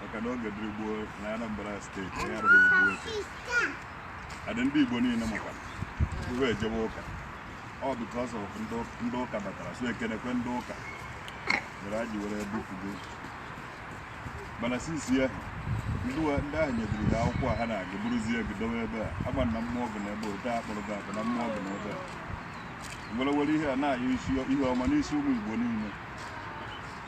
maka na oge dịrị gboo na Anambra steeti ya rụrụ igbu oke adị ndị Igbo niile maka uwe ejebe ụka ọ because of ndị ụka batara so ekenekwe ndị ụka mere ha ji were bupụgo mana osisi a ndị ahụ nyediri ha akwụkwọ a ha na-agụ bụrụzie gị dowe ebe a ama na mmụọ bụ na ebe ote akpọrọ gị akụ na mmụọ bụ na ebe a were were ihe a na-ayọ ihe ọma n'isi ụmụ Igbo niile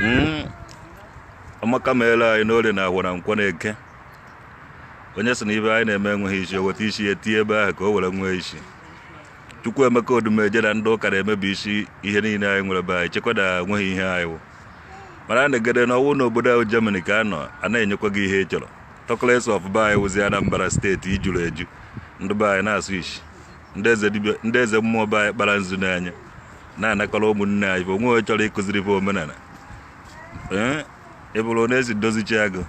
hmm. amaka meela anyị n'orie na afọ na nkwọ na eke onye sị na ihe anyị na-eme enweghị isi o weta isi ya tinye ebe ahụ ka o were nwee isi Chukwuemeka Odumeje na ndị ụka na-emebi isi ihe niile anyị nwere be anyị chekwa na enweghị ihe anyị wụ mana a na-egede na ọ wụ n'obodo ahụ Germany ka a nọ a na-enyekwa gị ihe ị chọrọ talkless of be anyị wụzi Anambra steeti ijuru eju ndị be anyị na-asụ isi ndị eze mmụọ be anyị kpara nzu n'anya na-anakọrọ ụmụnne anyị bụ o nwee onye chọrọ ịkụziri bụ omenala ee ị bụrụ onye esi dozichi agụ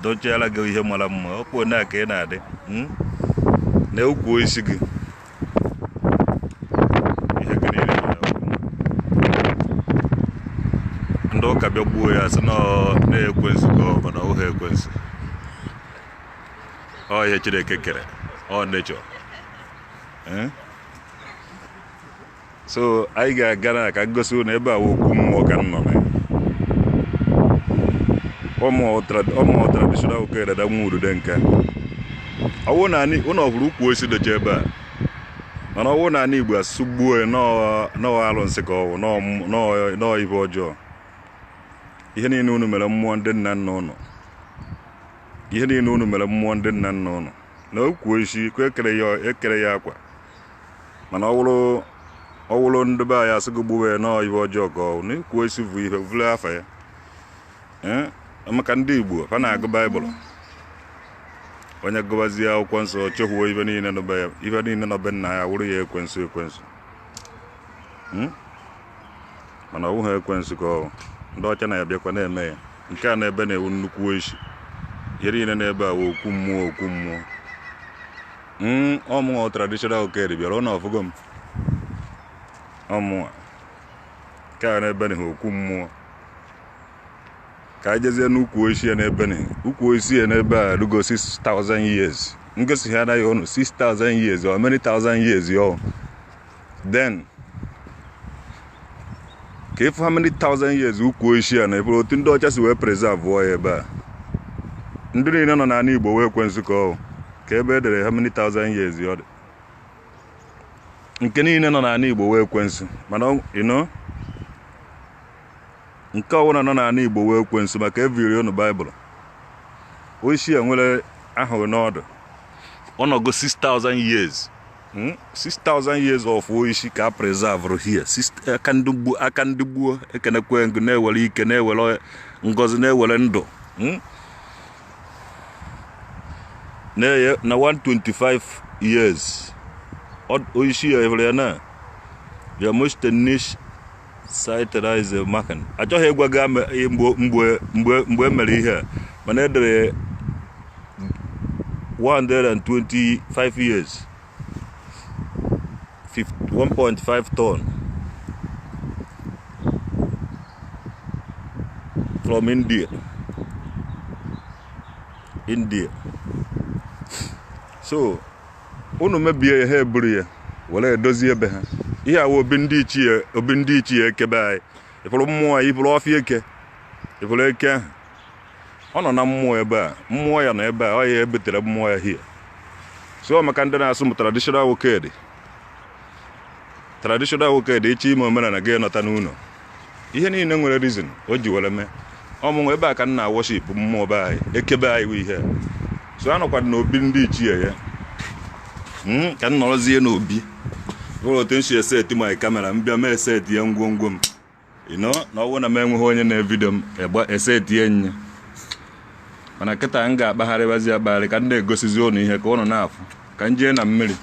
dochiara gị ihe mara mma ọ kwuo na ka ị na-adị mm? na ukwu osisi gị ihe gị niile dị n'akwụkwọ. ndị ụka bịa gbuo ya sị na ọ ekwensu ka ọ bụ mana ọ wụhọ ekwensu ọ ihe chineke kere ọ nature so anyị ga-aga na ka m gosi na ebe a okwu mmụọ ka m nọ na ọ mụ wụ traditional oke dada nwa udude nke ọwụ na ụlọ ọhụrụ ukwu osisi docha ebe a mana ọ wụ na anị igbo a sị gbuo na ọ alụsị ka ọ wụ na ọ ihe ọjọọ ihe niile unu mere mmụọ ndị nna nna ụnụ ihe niile unu mere mmụọ ndị nna nna ụnụ na ukwu osisi ka e kere ya akwa mana ọ wụrụ ọ wụrụ ndị be anyị a sị gị gbuwe ya na ọ ihe ọjọọ ka ọ na ukwu osisi bụ ihe vụle afa ya Ee, maka ndị igbo ha na-agụ baịbụl onye gụbazie akwụkwọ nsọ o chekwuo ihe niile nọ be ya ihe niile nọ be nna ya wụrụ ya ekwensu ekwensu Hmm? mana ọ wụghị ekwensu ka ọ bụ. ndị ọcha na-abịakwa na-eme ya nke a nọ ebe a wụ nnukwu osisi ihe niile nọ ebe a wụ okwu mmụọ okwu mmụọ Mm, ọ mụnwa bụ traditional oke dibịa ụnụ afụgo m ọ mụnwa nke a n'ebe na okwu mmụọ ka anyị jezie n'ukwu osisi ya n'ebe na ukwu osisi ya n'ebe a rugo 6000 years m gosi ha anaghị ụnụ 6000 years or many thousand years ọ then ka ịfụ how many thousand years ukwu oishi a na ịfụrụ otu ndị ọcha si wee preserve ya ebe a ndị niile nọ n'ala igbo wụ ekwensu ka ọ wụ ka ebe e dere how many thousand years ọ dị nke niile nọ n'ala igbo wụ ekwensu mana ọ- you know nke ọbụla nọ n'ala igbo wụ ekwensu maka eviri unu baịbụl oishi a nwere ahụ n'ọdụ ọ nọgo 6000 years 6,000 hmm? years of oishi ka a preserve here aka ndị gboo aka ndị gboo ekenekwee m ụnụ na-ewere ike na-ewere ngozi na-ewere ndụ hmm? na-eye na 125 years oishi a evere ya na ya mostennish sterilize maka na achọghị ịgwa gị ame- ihe mgbe mgbe mgbe mgbe e mere ihe a mana e dere 125 years 50 1.5 ton from India India so unu mebie ya ha eburu ya were edozie ebe ha ihe a wụ obi ndị ichie obi ndị ichie eke be anyị ịfụrụ mmụọ ya ịfụrụ ọfịa eke ịfụrụ eke ahụ ọ nọ na mmụọ ebe a mmụọ ya nọ ebe a ọ ya ebutere mmụọ ya here so maka ndị na-asị m traditional Nwokedi traditional Nwokedi ịchọ ime omenala gị nata n'ụlọ ihe niile nwere reason o ji were mee ọ mụnwa ebe a ka m na worship mmụọ be anyị eke be anyị wụ ihe so anọkwadụ n'obi ndị ichie ya hmm, ka m nọrọzie n'obi bụrụ otu m si eseti my camera m bịa mee eseti ya ngwongwo m you know na ọwụ na m enweghị onye na-evidio m egba eseti ya nye mana kịta m ga-akpagharịbazi akpagharị ka m na-egosizi ụnụ ihe ka ụnụ na-afụ ka m jee na mmiri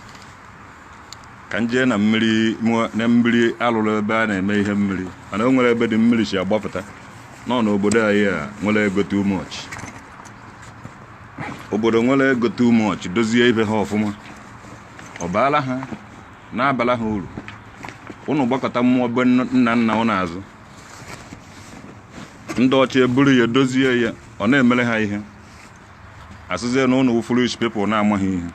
ka m jee na mmiri mụọ- na mmiri alụrụ ebe a na-eme ihe mmiri mana o nwere ebe dị mmiri si agbapụta nọ n'obodo anyị a nwere ego too much obodo nwere ego too much dozie ibe ha ọfụma ọ baala ha na-abala ha uru ụnụ gbakụta mmụọ be nna nna nna ụnụ azụ ndị ọcha eburu ya dozie ya ọ na-emere ha ihe asịzie na ụnụ wụ foolish people na-amaghị ihe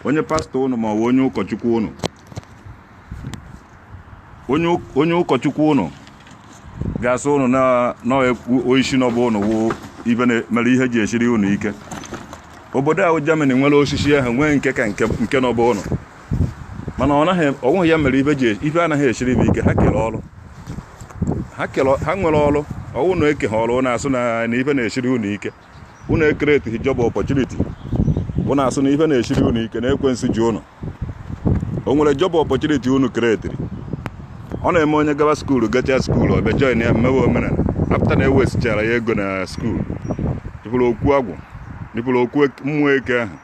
onye pastọ ụnụ ma ọ bụ onye ụkọchukwu ụnụ onye ụk- onye ụkọchukwu ụnụ ga-asị ụnụ na na oishi nọ be ụnụ wụ ihe na- mere ihe ji esiri ụnụ ike obodo ahụ Germany nwere osisi ahụ nwee nke ka nke nke nọ be ụnụ mana ọ naghị ọ wụghị ya mere ife ji e, ife anaghị esiri ibe ike ha kere ọrụ ha nwere ọrụ ọ wụ na ekeha ọrụ na-asị na ife na-esiri unu ike unu ecreateghị job opportunity unu asị na ife na-esiri unu ike na ekwensu ji unu o nwere job opportunity unu createrị ọ na-eme onye gaba skuulu gacha skuulu ọ bịa join ya mewe omenala apụta na ewastechara ya ego na skuulu ị fụrụ okwu agwụ ị fụrụ okwu mmụọ eke ahụ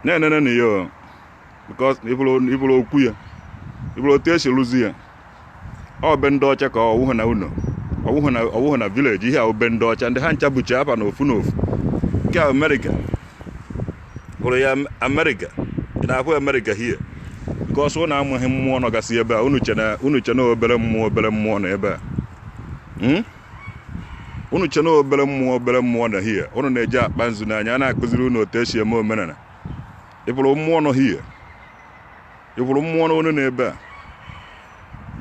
na-enene na ya because ị fụrụ okwu ya ị fụrụ otu esi rụzi ya ọ be ndị ọcha ka ọ wụhụ na ụlọ ọ wụhụ na village ihe a ọ be ndị ọcha ndị ha ncha buchi afa na ofu na ofu nke amerịka hụrụ ya amerịka ị na-ahụ amerịka here because unu amaghị mmụọ nọgasị ebe a unu che na obere mmụọ obere mmụọ nọ ebe a hmm? unu che na obere mmụọ obere mmụọ nọ here unu na-eji akpa nzu n'anya a na-akụziri unu otu esi eme omenala ị fụrụ mmụọ nọ here ị fụrụ mmụọ nọnụ n'ebe a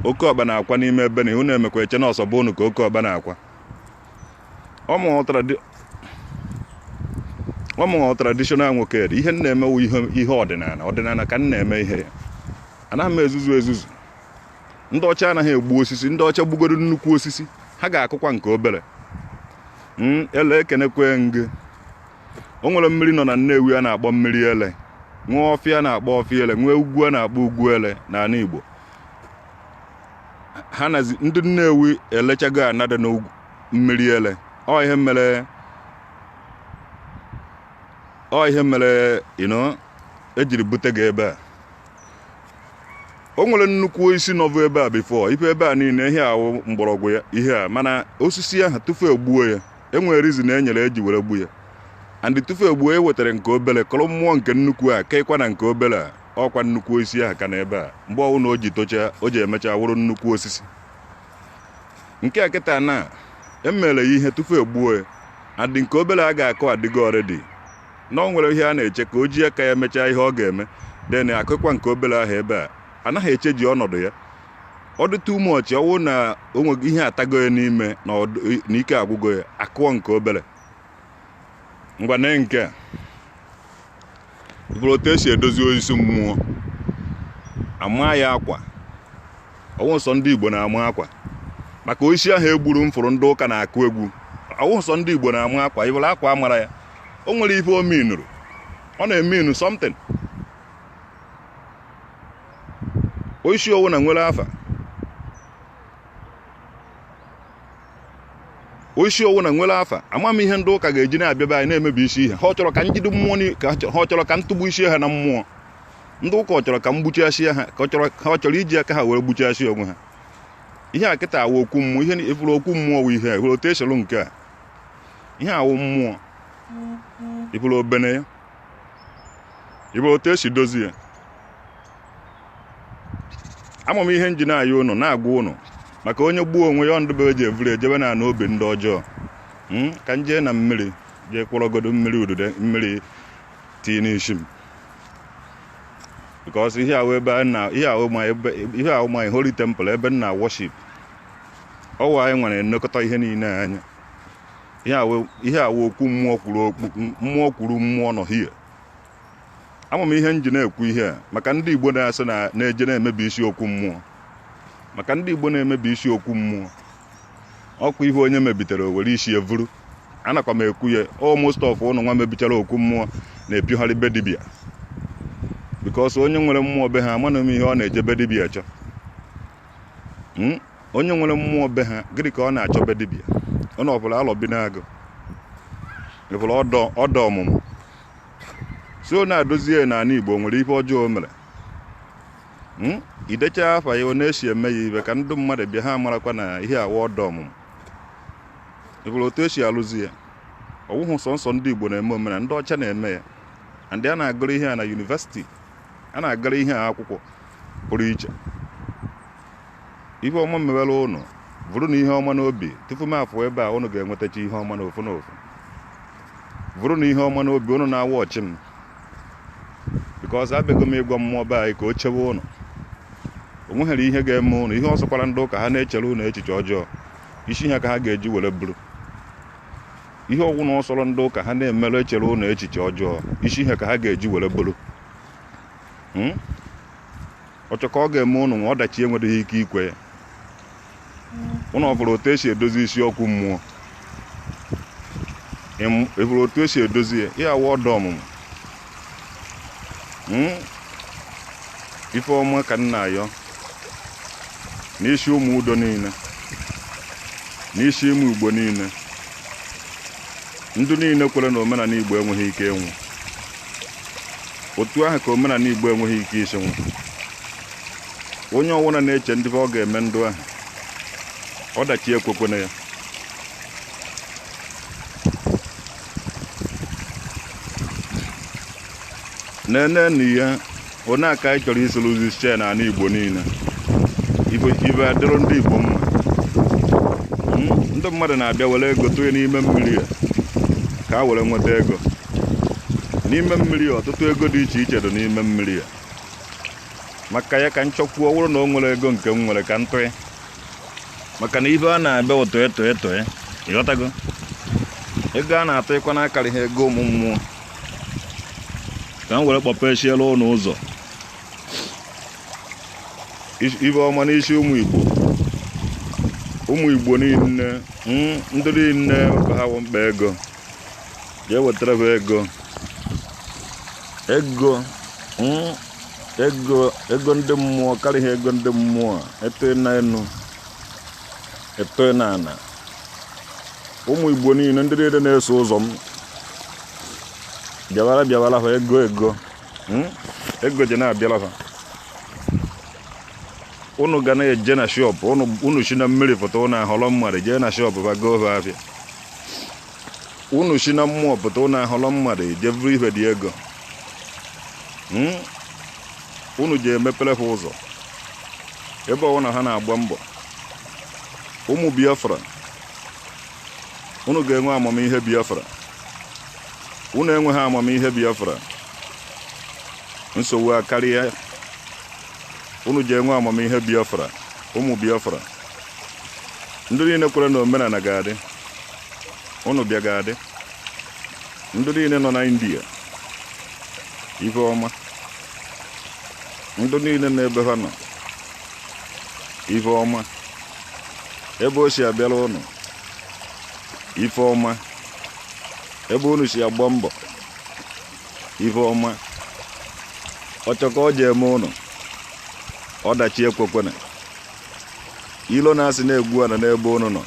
oke ọkpa na-akwa n'ime ebe na ihu na-emekwa eche na ọ sọ be unu ka oke ọkpa na-akwa ọ mụ wụ tradi- ọ mụ wụ traditional Nwokedi ihe m na-eme wụ ihe ihe ọdịnala ọdịnala ka m na-eme ihe ya anaghị m ezuzu ezuzu ndị ọcha anaghị egbu osisi ndị ọcha gbugodo nnukwu osisi ha ga-akụkwa nke obere hmm, Ele ekenekwa m gị o nwere mmiri nọ na Nnewi a na-akpọ mmiri ele nwee ọfịa a na-akpọ ọfịa ele nwee ugwu a na-akpọ ugwu ele n'ala Igbo ha nazi ndị Nnewi elechago Anaedo na mmiri ele ọ ihe mere ọ ihe mere ino ejiri bute gị ebe a o nwere nnukwu osisi nọvụ ebe a before ife ebe a niile ihe a wụ mgbọrọgwụ ya ihe a mana osisi ahụ tufu egbuo ya enwere reason e nyere eji were gbu ya and tufu egbuo ya e wetara nke obere kọrọ mmụọ nke nnukwu a keekwa na nke obere a ọ kwa nnukwu osisi ahụ ka nọ ebe a mgbe ọ wụ na o ji tocha o ji emecha wụrụ nnukwu osisi nke a kịta na emere ya ihe tufu egbuo ya and nke obere a ga-akọ adịgo already na o nwere ihe a na-eche ka o ji aka ya mechaa ihe ọ ga-eme then akụkwa nke obere ahụ ebe a anaghị eche ji ọnọdụ ya ọ dị too much ọ wụ na o nwe ihe atago ya n'ime na ọdụ- na ike agwụgo ya akụọ nke obere ngwa nee nke a bụrụ otu esi edozi oisi mmụọ a maa ya akwa ọ wụ sọ ndị Igbo na-ama akwa maka oisi ahụ egburu m fụrụ ndị ụka na-akụ egwu ọ wụ sọ ndị Igbo na-ama akwa ị fụrụ akwa a mara ya o nwere ife o minuru ọ na-eminu something osisi ọwụna nwere afa osisi ọwụna nwere afa ama m ihe ndị ụka ga-eji na-abịaba anyị na-emebi isi ihe ha ọ chọrọ ka m jide mmụọ ni- ka ha chọrọ- ha ọ chọrọ ka m tụgbu isi ha na mmụọ ndị ụka ọ chọrọ ka m gbuchasịa ha ka ọ chọrọ ha ọ chọrọ iji aka ha were gbuchasịa onwe ha ihe a kịta wụ okwu mmụọ ihe ị fụrụ okwu mmụọ wụ ihe a ị fụrụ otu esoro nke a ihe a wụ mmụọ ị fụrụ obene ya ị fụrụ otu esi dozie ya ama m ihe m ji na-ayọ ụnụ na-agwa ụnụ maka onye gbuo onwe ya ọndụbe eji evuru ejebe na ana obi ndị ọjọọ hmm? ka m jee na mmiri jee kurugodu mmiri udude mmiri tii n'isi m because ihe a wụ ebe ihe a wụ my ihe a wụ my holy temple ebe m na-worship ọ wụ anyị nwere nnekọta ihe niile anya ihe a wụ okwu mmụọ kwuru okwu mmụọ kwuru mmụọ nọ hie ama m ihe m ji na-ekwu ihe a maka ndị Igbo na-asị na-eje na-emebi isi okwu mmụọ maka ndị Igbo na-emebi isi okwu mmụọ ọkwa ihe onye mebitere o were isi evuru anakwa m ekwu ya o most of ụnụ nwa mebichara okwu mmụọ na-epigharị be dibia because onye nwere mmụọ be ha amanụ m ihe ọ na-eje be dibia achọ Hmm? onye nwere mmụọ be ha gịnị ka ọ na-achọ be dibịa ọ na ọbụla Alọbinagụ ị fụla ọda ọmụmụ si ọ na-adozi ya n'ala Igbo nwere ihe ọjọọ o mere hmm? i decha afa ya ọ na-esi eme ya ibe ka ndị mmadụ bịa ha marakwa na ihe a wụ ọda ọmụmụ ị fụla otu esi alụzi ya ọ wụhụ sọsọ ndị Igbo na-eme omena ndị ọcha na-eme ya ndị a na-agụrụ ihe a na university a na-agụrụ ihe a akwụkwọ pụrụ iche ihe ọma mewere ụnụ vurunụ ihe ọma n'obi tupu m afụ ebe a ụnụ ga-enwetacha ihe ọma n'ofu n'ofu vurunụ ihe ọma n'obi ụnụ na-awa ọchị m because abịago m ịgwa mmụọ be anyị ka o chewe ụnụ o nweghịrị ihe ga-eme ụnụ ihe ọ sọkwara ndị ụka ha na-echere ụnụ echiche ọjọọ isi ha ka ha ga-eji were buru ihe ọwụna ọ sọrọ ndị ụka ha na-emere echere ụnụ echiche ọjọọ isi ha ka ha ga-eji were buru hmm? ọ chọ ka ọ ga-eme ụnụ nwa ọdachi enweghị ike ikwe ya ụnụ ọ fụrụ otu esi edozi isi okwu mmụọ ị fụrụ otu esi edozi ya ihe a wụ ọda ọmụmụ hmm? ife ọma ka m na-ayọ n'isi ụmụ udo niile n'isi ụmụ Igbo niile ndị niile kwere na omenala Igbo enweghị ike ịnwụ otu ahụ ka omenala igbo enweghị ike isi nwụ onye ọwụna na-eche ndị ọ ga-eme ndụ ahụ ọdachi ekwekwena ya nene na ihe onye aka anyị chọrọ isi lụzi chee na ala igbo niile ife adịrị ndị igbo mma hmm? ndị mmadụ na-abịa were ego tụnye n'ime mmiri a ka a were nweta ego n'ime mmiri ọtụtụ ego dị iche iche dị n'ime mmiri a maka ya ka m chọkwuo ọ wụrụ na o nwere ego nke m nwere ka m tụị maka na ife a na-abịa ụtọ eto eto e, ịghọtago ego a na-atụ ịkwa n'akarị ha ego ụmụ mmụọ ka m were kpọpechiela ụnụ ụzọ ife ọma n'isi ụmụ igbo ụmụ igbo niile hmm, ndị niile ka ha mkpa ego jee wetara ha ego ego mm, ego ego ndị mmụọ karịa ego ndị mmụọ eto na enu eto na ana ụmụ igbo niile ndị niile na-eso ụzọ m bịawara bịawara ha ego ego mm, ego ji na-abịara ha unu ga na-eje na shop unu si na mmiri pụta unu ahọrọ mmadụ jee na shop ba goo ha afịa unu si na mmụọ pụta unu ahọrọ mmadụ ejee buru ife dị ego hmm? unu ji emepere ha ụzọ ebe ọwụna ha na-agba mbọ ụmụ biafra unu ga-enwe amamihe biafra unu enweghị amamihe biafra nsogbu akarịa unu ji enwe amamihe biafra ụmụ biafra ndị niile kwere na omenala ga-adị ụnụ bịa ga-adị ndị niile nọ na india ife ọma ndị niile nọ ebe ha nọ ife ọma ebe o si abịara ụnụ ife ọma ebe unu si agba mbọ ife ọma ọchọ ka ọ ji eme ụnụ ọdachi ekwekwena ilo na asị na egwu anọna ebe unu nọ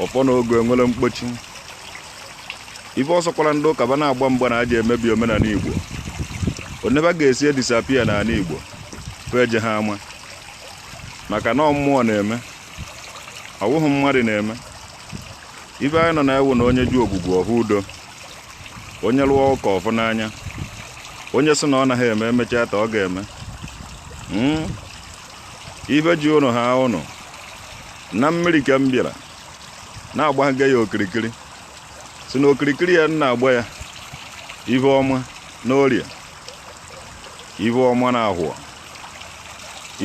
ọfọ na ogu enwerọ mkpochi ife ọ sọkwara ndị ụka ba na-agba mgba na a ja-emebi omenala igbo one ba ga-esi e-disappear n'ala igbo fa ejeha ama maka na mmụọ na-eme ọ wụghị mmadụ na-eme ife anyị nọ na ya wụ na onye jụ ogbugbu ọ hụ udo onye lụọ ụka ọ fụ n'anya onye sị na ọ naghị eme emechaata ọ ga-eme hmm? ife ji ụnụ haa ụnụ na mmiri ka m bịara na-agbaga ya okirikiri si na okirikiri ya na-agba ya ife ọma n'orie ife ọma na ahọ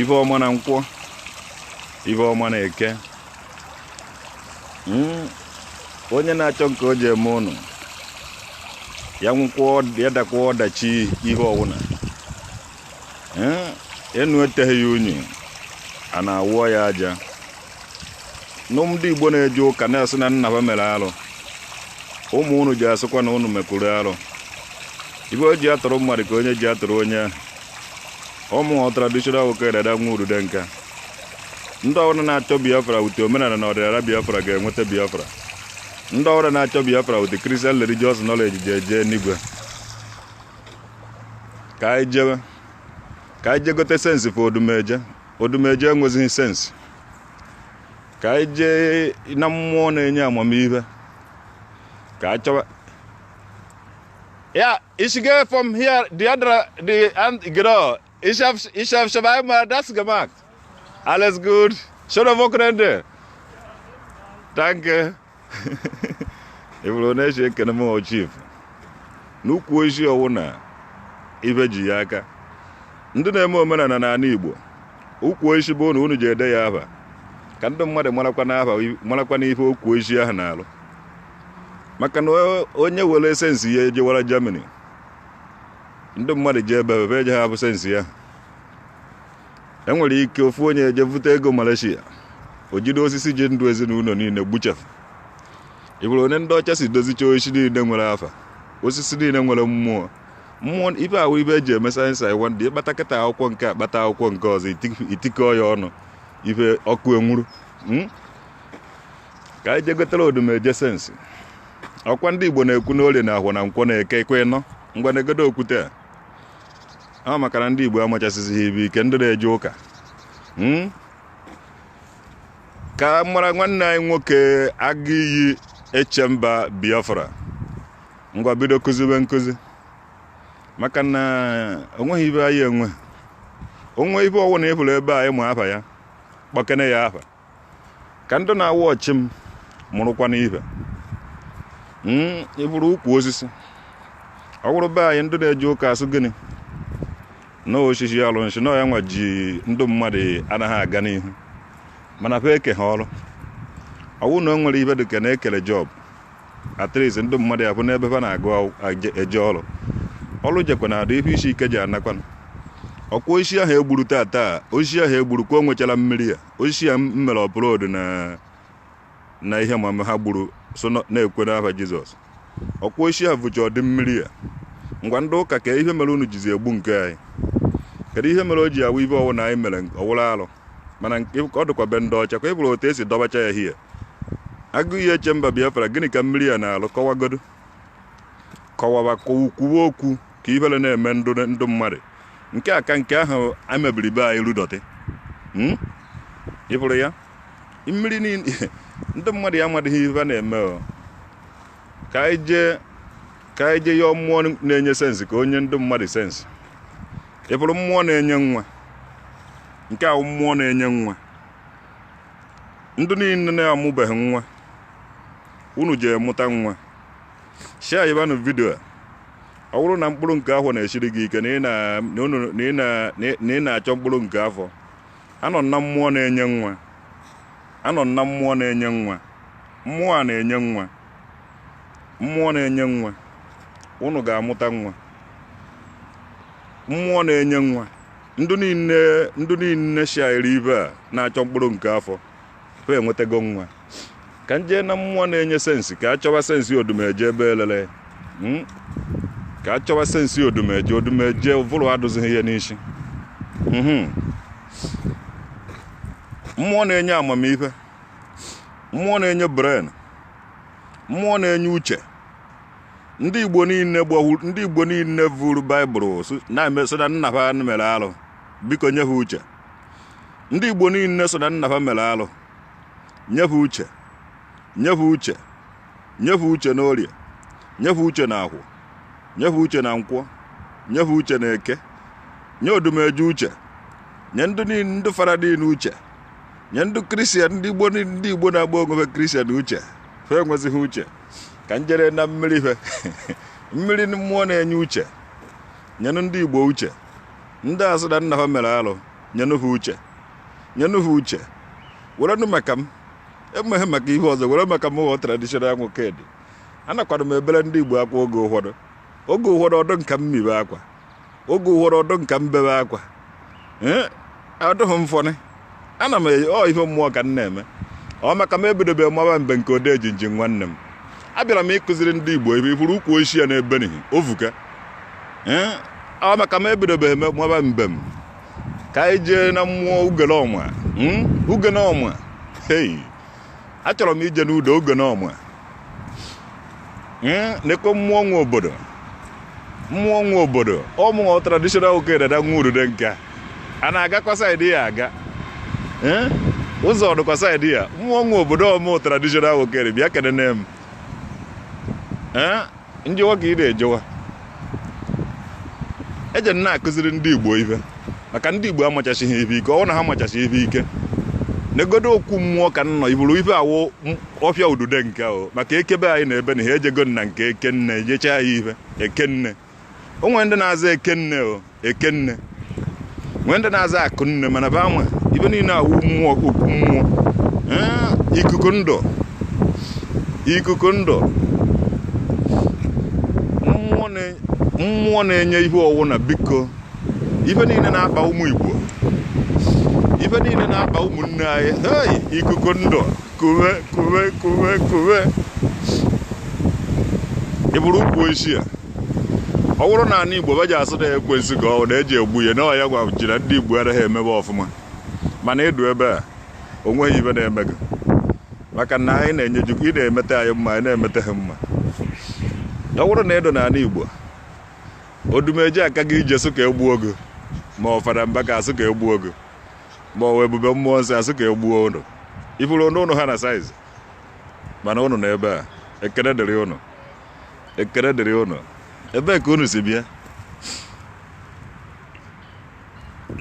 ife ọma na nkwọ ife ọma na eke hmm, onye na-achọ nke o ji eme ụnụ ya nwụkwọ ya dakwa ọdachi ife ọwụna enu eteghị ya unyi ana awụọ ya aja ndị igbo na-eje ụka na-asị na nna ha mere arụ ụmụ unu ji asịkwa na unu mekwuru arụ ife o ji atụrụ mmadụ ka onye ji atụrụ onye ụmụ traditional nwoke dada nwa urude nka ndị ọwụna na-achọ biafra wute omenala na ọdịnala biafra ga-enweta biafra ndị ọwụna na-achọ biafra wute christian religious knowledge ji eje n'igwe ka anyị jewe ka anyị jee gote sensi for odumeje odumeje enwezighị sensi ka anyị jee na mmụọ na-enye amamihe ka anyị chọwa ya ich gehe von hier the other the and gero Ich habe ich hab schon einmal das gemacht. Alles gut. Schöne Wochenende. Danke. Ebulu na-eji ekene m chief n'ukwu osisi ọwụna ife ji ya aka ndị na-eme omenala n'ala Igbo ukwu osisi ọbụna unu jee dee ya aha ka ndị mmadụ marakwa ife ukwu osisi ahụ na-alụ maka na onye were sensi ya ejewara Germany ndị mmadụ ji ebe ebe eje ha bụ sensi ya enwere ike ofu onye eje vute ego Malaysia o jide osisi ji ndụ ezinụlọ niile gbuchee ị fụrụ onye ndị ọcha si dozicha osisi niile nwere afa osisi niile nwere mmụọ mmụọ ife a wụ ife e ji eme sayensị iwa ndị ị kpata kịta akwụkwọ nke a kpata akwụkwọ nke ọzọ i tikọ ya ọnụ ife ọkụ enwuru hmm? ka anyị jee gotere odumeje sensi ọkwa ndị igbo na-ekwu n'orie na ahọ na nkwọ na eke ekwe nọ ngwa na-egodo okwute a ọ maka na ndị igbo amachasịzighị ife ike ndị na-eje ụka hmm? ka mara nwanne anyị nwoke aga iyi echemba biafra ngwa bido kuzibe nkuzi maka na o nweghị ife anyị enwe onwe ife ọwụna ị fụrụ ebe a ị ma afa ya kpọkene ya afa ka ndị na-awụ ọchị m mụrụkwa n'ife hmm, ị hụrụ ukwu osisi ọ bụrụ be anyị ndị na-eje ụka asị gị na osisi alụsị na ya nwa ji ndị mmadụ anaghị aga n'ihu mana fa ekeghị ọrụ ọwụ na o nwere ife dịka na-ekele job at least ndị mmadụ ya bụ n'ebe fa na-aga eje ọrụ ọrụ jekwa na adị ife isi ike ji anakwana ọkwa osisi ahụ egburu taa taa osisi ahụ egburu ka o nwechara mmiri ya osisi ya m mere upload na na ihe ma ha gburu sị na- na-ekwe n'afa jizọs ọkwa osisi ahụcha dị mmiri ya ngwa ndị ụka kee ihe mere unu jizi egbu nke anyị kedu ihe mere o ji awụ ihe ọwụ na anyị mere ọwụrụ alụ mana nke- ọ dịkwa be ndị ọcha ka ị hụrụ otu esi dọbacha ya hie agụ ihe echemba biafra gịnị ka mmiri ya na-alụ kọwagodo kọwaba kwuwe okwu ka ihere na-eme ndị ndị mmadụ nke a ka nke ahụ anyị mebiri be anyị ruo dọtị Hmm? ị hụrụ ya mmiri niile ndị mmadụ ya amadịghị ihe ha na-eme o. ka anyị jee ka anyị jee yọọ mmụọ na-enye sensị ka o nye ndị mmadụ sensị ị hụrụ mmụọ na-enye nwa nke ahụ mmụọ na-enye nwa ndị niile na-amụbeghị nwa unu jee mụta nwa sharebanụ vidio a ọ bụrụ na mkpụrụ nke afọ na-esiri gị ike na ị na- na unu- na ị na- na ị- na ị na-achọ mkpụrụ nke afọ anọ m na mmụọ na-enye nwa anọ m na mmụọ na-enye nwa mmụọ a na-enye nwa mmụọ na-enye nwa unu ga-amụta nwa mmụọ na-enye nwa ndị niile ndị niile shairi ihe a na-achọ mkpụrụ nke afọ ha enwetago nwa ka m jee na mmụọ na-enye sensi ka a chọwa sensi odumeje ebe elele Mm. ka a chọwa sensi odumeje odumeje ụvụrụ adụzighị ya n'isi Mhm. mmụọ na-enye amamihe mmụọ na-enye brain mmụọ na-enye uche ndị igbo niile gbahuru ndị igbo niile vuru baịbụl sị- na-eme sị na nna ha mere alụ biko nye ha uche ndị igbo niile sị na nna ha mere alụ nye ha uche nye ha uche nye ha uche na orie nye ha uche na afọ nye ha uche na nkwọ nye ha uche na eke nye odumeje uche nye ndị niile ndị fada niile uche nye ndị kristian ndị igbo niile- ndị igbo na-agba onwe ha kristian uche ha enwezighị uche ka m jere na mmiri fe mmiri mmụọ na-enye uche nyenụ ndị igbo uche ndị asị na nna ha mere alụ nyenụ ha uche nyenụ ha uche werenụ maka m emeghị maka ihe ọzọ were maka m ghọọ traditional nwokedi anakwara m ebere ndị igbo akwa oge ụfọdụ oge ụfọdụ ọ dụ nka m bebe akwa oge ụfọdụ ọ dụ nka m bebe akwa ee ọ dụghị m funny ana m eyi ọ ihe mmụọ ka m na-eme ọ maka m ebidobe maba mbe nke ode ejinji nwanne m abịara m ịkụziri ndị igbo ebe ị furu ukwu osisi a n'ebe n'ihi o vuka ee ọ maka m ebidobe eme maba mbe m ka anyị jee na mmụọ ugenọma hmm? ugenọma hey achọrọ m ije n'udo ugenọma hmm? nekwe mmụọ nwe obodo mmụọ nwe obodo ọ mụọ traditional nwokedi dada nwa ududenka a na-agakwa side ya aga hmm? ụzọ dịkwa side ya mmụọ nwe obodo ọ mụ traditional nwokedi bịa kenene m njewa ka ị na-ejewa eje m na-akụziri ndị igbo ife maka ndị igbo amachachighị ife ike ọ wụ na ha amachachi ife ike negodo okwu mmụọ ka nnọ iburu ife awụ ọfịa ududenka maka eke be anyị na ebe na ha ejego na nke ekenne jechaa ya ife ekenne o nwere ndị na-aza ekenne o ekenne nwee ndị na-aza akụnne mana be ama ife niile awụ mmụọ okwu mmụọ ee, ikuku ndụ ikuku ndụ mmụọ na- mmụọ na-enye ihe ọ wụ na biko ife niile na-akpa ụmụ igbo ife niile na-akpa ụmụnne anyị hey, ikuku ndụ kuwe kuwe kuwe kuwe ị bụrụ ukwu osisi a ọ bụrụ na ana igbo baji asụ na ekwensu ka ọ na-eji egbu ya na ọ ya agwa ji na ndị igbo anaghị emebe ọfụma mana ị dụ ebe a o nweghị ife na-eme gị maka na anyị na-enyeju ị na-emete anyị mma anyị na-emete ha mma ọ bụrụ na ị dụ na ana igbo odumeje aka gị ije sụ ka e gbuo gị ma ọ fada mbaka a sụ ka e gbuo gị ma ọ ebube mmụọ nsọ a sụ ka e gbuo ụnụ ị furu ụnụ ha na size mana ụnụ na ebe a ekene dịrị ụnụ ekele dịrị unu ebee ka unu si bịa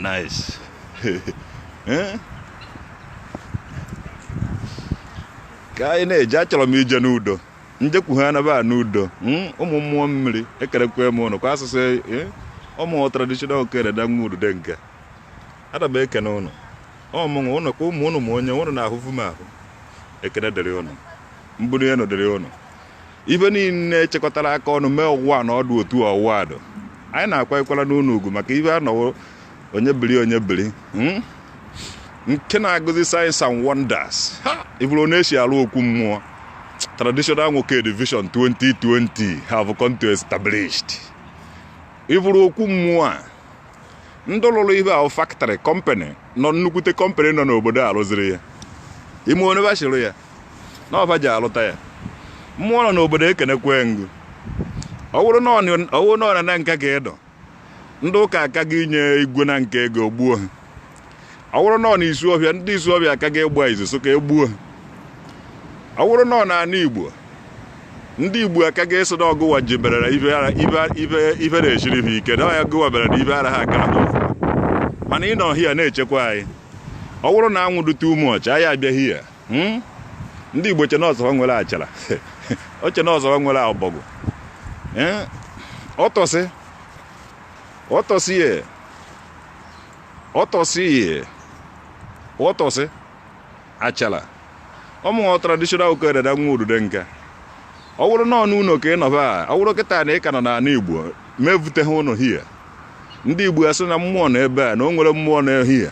nice eh? ka anyị na-eje achọrọ m ije n'udo njekwu ha anaba n'udo hmm? ụmụ mmụọ mmiri ekenekwe m ụnụ kwa asụsụ eh? ọ mụ traditional nwokedi dada nwa ududenka ana m ekene ụnụ ọmụnwụ ụnụ ka ụmụ ụnụ ma onye ụnụ na-ahụfu m ahụ ekene dịrị ụnụ mbuli enu dịrị ụnụ ife niile echekọtara aka ọnụ mee ọwụwa na ọdụ otu ọwụwa adụ anyị na-akwanyekwara ụnụ ugwu maka ife anọwo onye biri onye biri hmm? nke na-agụzi signs and wonders ha ị fụrụ ọ na-esi arụ okwu mmụọ traditional Nwokedi vision 2020 have come to established ị fụrụ okwu mmụọ a ndị lụrụ ife ahụ factory company nọ nnukwute company nọ n'obodo a rụziri ya ime onye bachiri ya na ọ fa ji alụta ya mmụọ nọ n'obodo ekenekwe m gụ ọ wụrụ na ọ na Nanka ka ị nọ ndị ụka aka gị inye igwe Nanka ego gbuo ha ọ wụrụ na ọ na Isuọfịa ndị Isuọfịa aka gị ịgba izu so ka egbuo ha ọ wụrụ na ọ n'ana igbo ndị igbo aka gị ịsị na ọgụwa ji berere ife na-echiri ha ike na ọya gụwa bere na ife ara ha aka ha mana ị nọ here na-echekwa anyị ọ bụrụ na anwụ dị too much anyị abịa here Hmm? ndị igbo che n'ọzọ nwere achara oche n'ọzọ nwere ọbọgwụ eh? ọtọsị ọtọsị ye ọtọsị ye ọtọsị achara ọ mụnwa traditional a.k.a Dada nwa Ududonka ọ wụrụ na ọ n'ụlọ ka ị nọba ọ wụrụ kịta na ị ka nọ n'ala igbo mevute ha ụlọ here ndị igbo asị na mmụọ nọ ebe a na o nwere mmụọ nọ here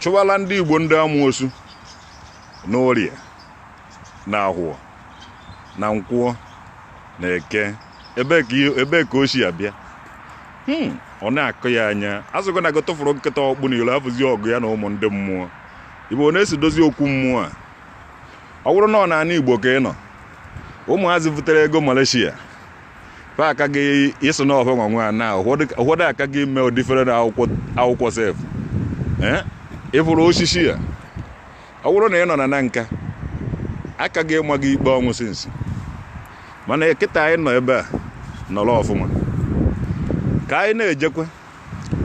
chụwala ndị igbo ndị amosu na orie na ahọ na nkwọ na eke ebee ka ihe- ebee ka o si abịa Hmm, ọ na-akọ ya anya azụgo na ga tụfụrụ nkịta ọkpụ n'iro afụzi ọgụ ya na ụmụ ndị mmụọ igbo ọ na-esi dozi okwu mmụọ a ọ bụrụ na ọ n'ana igbo ka ị nọ ụmụazị butere ego malaysia fa aka gị ịsị na ọ fa nwa nwa na ụfọdụ aka gị mee ụdịfere na akwụkwọ akwụkwọ sef Eh? ị fụrụ osisi a ọ bụrụ na ị nọ na Nanka aka gị ịma gị ikpe ọnwụ since mana kịta anyị nọ ebe a nọrọ ọfụma ka anyị na-ejekwa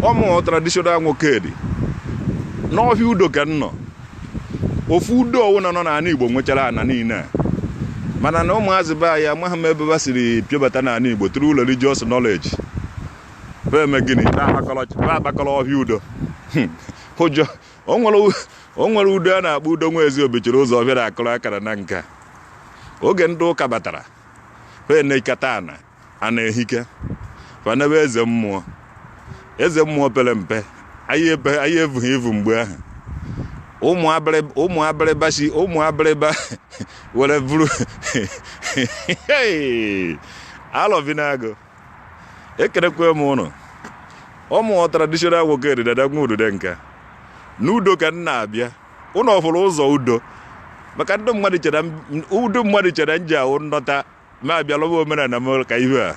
ọ mụ traditional Nwokedi n'ọhịa udo ka m nọ ofu udo ọwụna nọ n'ala igbo nwechara ana niile a mana na ụmụazị be anyị amaghị m ebe ba siri piobata n'ala igbo tụrụ ụlọ religious knowledge be eme gịnị be akpakọrọ ọhịa udo hmm. ụjọ o nwere udo a na-akpọ udo nwa ezi obichiri ụzọ ọbịara akụrụ akara Nanka oge ndị ụka batara pe nekata ana a na-ehike fanebe eze mmụọ eze mmụọ pere mpe anyị ebe- anyị evughị evu mgbe ahụ ụmụ abịrị- ụmụ abịrịba si ụmụ abịrịba were buru alọvinagụ ekerekwe m ụnụ ọ mụ wụ traditional nwokedi dada nwa ududenka n'udo ka m na-abịa ụnụ ọ fụrụ ụzọ udo maka ndị mmadụ chere m- ndị mmadụ chere m ji ahụ ndọta na-abịa lọba omenala m ka ibe a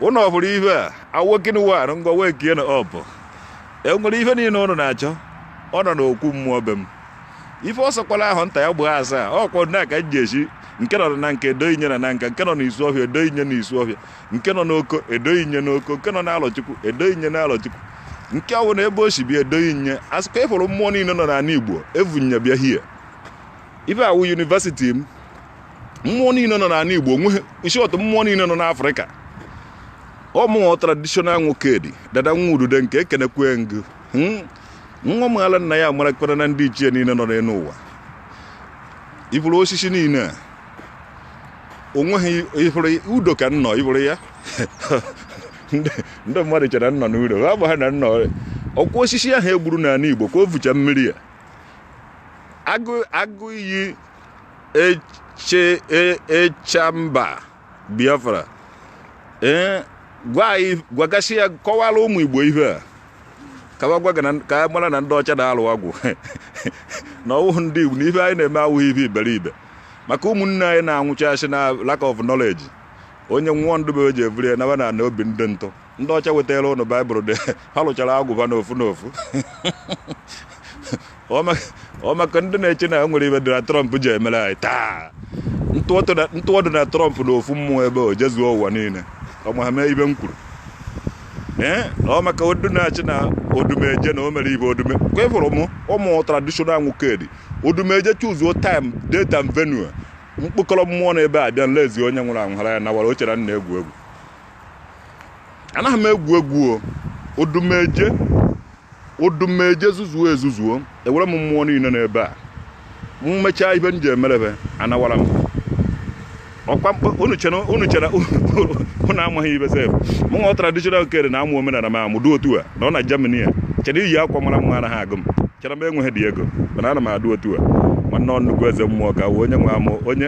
ụnụ ọ fụrụ ibe a awokin wan ngwa wee kie na ọpụ e nwere ife niile ụnụ na-achọ ọ nọ n'okwu mmụọ be m ife ọ sọkwala ahụ nta ya gbaa asaa ọ kwọdụ na aka ji echi nke nọ nanka edo inye na nanka nke nọ n'isuọhịa edo inye n'isuọhịa nke nọ n'oko edo inye n'oko nke nọ n'alọchukwu edo inye n'alọchukwu nke ọ bụla ebe o si bịa edo inye a sịkwa ị fụrụ mmụọ niile nọ n'ala igbo evunye bịa hie ife a wụ university m mmụọ niile nọ n'ala Igbo onye isi otu mmụọ niile nọ n'Afrịka ọ mụ wụ traditional Nwokedi Dada nwa Ududenka ekenekwe m gụ hmm? nwa mala nna ya amarakwarana ndị ichie niile nọ n'elu ụwa ị fụrụ osisi niile a o nweghị ị fụrụ udo ka m nọ ị fụrụ ya ndị mmadụ chere m nọ n'udo ha bụ ha na nnọ ọ kwa osisi ahụ e gburu n'ala Igbo ka o vucha mmiri ya agụ iyi eche e- echamba biafra ee gwa anyị gwagasị ya kọwara ụmụ igbo ihe a ka wa gwa gị na- ka a mara na ndị ọcha na-alụ ọgwụ na ọ wụhụ ndị igbo na ife anyị na-eme awụghị ife iberibe maka ụmụnne anyị na-anwụchasị na lack of knowledge onye nwụọ ndụ bụ eji evuru ya nawa na ana obi ndị ntụ ndị ọcha wetara ụnụ baịbụl dị ha lụchara agwụba n'ofu n'ofu ọ maka ndị na-eche na nwere ibe dị na trump ji emere anyị taa ntụọdụ na trump na ofu mmụọ ebe o jezuo ụwa niile ọ ma ha mee ibe m kwuru ee ọ maka ndụ na-eche na odumeje na o mere ibe odume ka ị fụrụ m mụ traditional nwokedi odumeje choose-uo time date and venue m kpọkọrọ mmụọ na ebe a bịa nlezi onye nwụrụ anwụ hara ya nawara o chere m na-egwu egwu anaghị m egwu egwu o odumeje odumeje zuzuo ezuzuo ewere m mmụọ niile n'ebe a m mechaa ibe m ji emerebe anawara m ọ kwa unu chere unu chere unu amaghị ibe sef mụnwa traditional nwokedi na-amụ omenala m amụ dị otu a m nọ na Germany a chere iyi akwa mara mma anaghị agụ m chere m enweghịdị ego mana ana m adụ otu a nwanne nnukwu eze mmụọ ka onye nwe amụ onye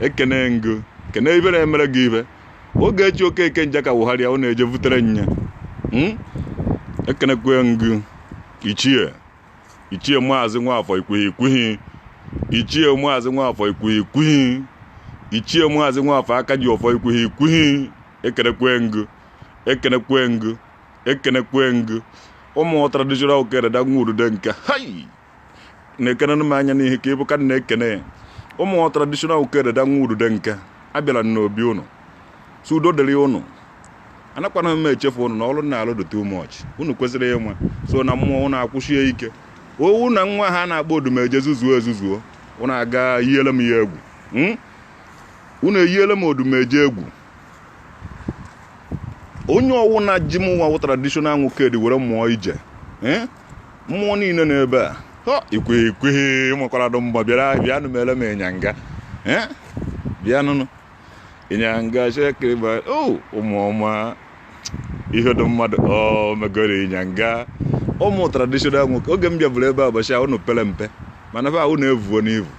ekene ngụ kene ihe na-emere gị ihe oge echi okeke nje ka wụgharịa ọ na-eje vutere nya Mm? ekenekwe ngụ ichie ichie maazị nwafọ ikwuhi ikwuhi ichie maazị nwafọ ikwuhi ikwuhi ichie maazị nwafọ aka ji ọfọ ikwuhi ikwuhi ekenekwe ngụ ekenekwe ngụ ekenekwe ngụ ọ mụ traditional okere da nwa udude nke hai nekenenụ m anya n'ihe ka ịbụ ka na-ekene ọ mụ traditional okere da nwa udude nke abịala m n'obi ụnụ sị udo dịrị ụnụ anakwana m echefu ụnụ na ọrụ na-alụ dị too much ụnụ kwesịrị ịnwa so na mmụọ ụnụ akwụsie ike ọ wụ na nwa ha na-akpọ odumeje zuzuo ezuzuo ụnụ a ga yiele m ya egwu hmm? ụnụ eyiele m odumeje egwu onye ọwụna ji mụnwa wụ traditional nwokedi were mụọ ije eh? mmụọ niile nọ ebe a ikwe ekwe nwekwara dụ mgba bịara bịanụ mere m ịnyanga bịanụnụ ịnyanga shekiriba o oh, ụmụ ọma ihe dị mmadụ ọ oh, megoro ịnyanga ọ mụ traditional nwoke oge m bịabụrụ ebe a ụbọchị a unu pere mpe mana fa unu evuona ivu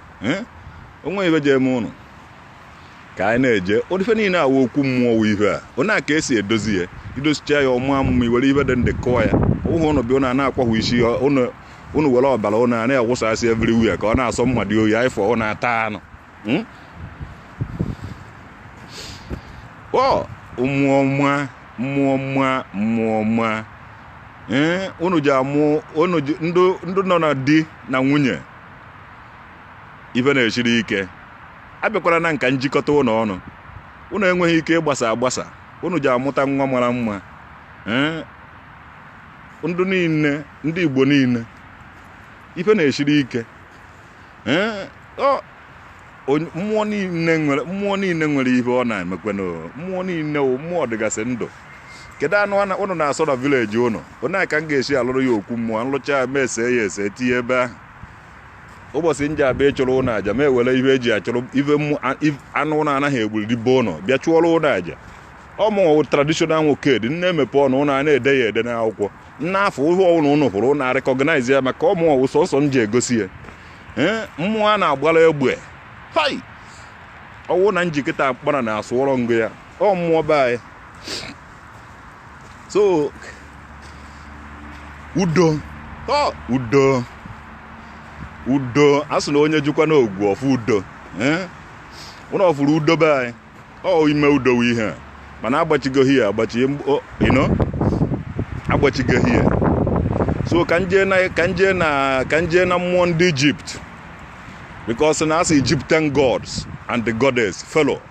o nwe ihe ji eme ụnụ ka anyị na-eje ife niile awụ okwu mmụọ wụ ihe a onye a ka e si edozi ya i dozicha ya ọ maa mma i were ihe dị ndụ kụọ ya ụhụ ụnụ bịa ụnụ a na-akwahụ isi ụnụ were ọbara ụnụ a na-awụsasị everywhere ka ọ na-asọ mmadụ oyi aịfọ ụnụ ata anụ hmm? ọ mmụọ mma mmụọ mma mmụọ mma ụnụ eh, ji amụ ụnụ ji ndị nọ na di na nwunye ife na-esiri ike abịakwara n'aka m jikọta ụnụ ọnụ ụnụ enweghị ike ịgbasa agbasa ụnụ ji amụta nwa mara mma ndị niile ndị igbo niile ife na-esiri ike mmụọ niile nwere mmụọ niile nwere ihe ọ na-emekwenụ mmụọ niile wụ mmụọ dịgasị ndụ kedu anụ ụnụ na-asọ na village ụnụ onye ka m ga-esi alụrụ ya okwu mmụọ m lụcha ya m ese ya ese tinye ebe ahụ ụbọchị m ji abịa ịchụrụ ụnụ aja m ewere ife e ji achụrụ ife anụ ụnụ anaghị egburi be ụnụ bịa chụọrọ ụnụ aja ọ mụnwụ traditional nwokedi na-emepe ọnụ ụnụ a na-ede ya ede n'akwụkwọ n'afọ ihe ọwụna ụnụ hụrụ ụnụ a-recognize ya maka ọ mụnwụ sọsọ m ji egosi ya mmụọ a na-agbara egbe hai ọ wụ na njikọta mkpara na-asụọrọ ngụ ya ọ mmụọ be anyị so udo ọ udo udo a sị na onye jikwa n'ogwu ọfụ udo ee ụnụ ọfụrụ udo be anyị ọ ime udo wụ ihe a mana agbachigoghị ya agbachi o- you know, agbachigoghị ya so ka nje na ka nje na ka nje na mmụọ ndị Egypt because na a sị egyptian gods and the goddess fellow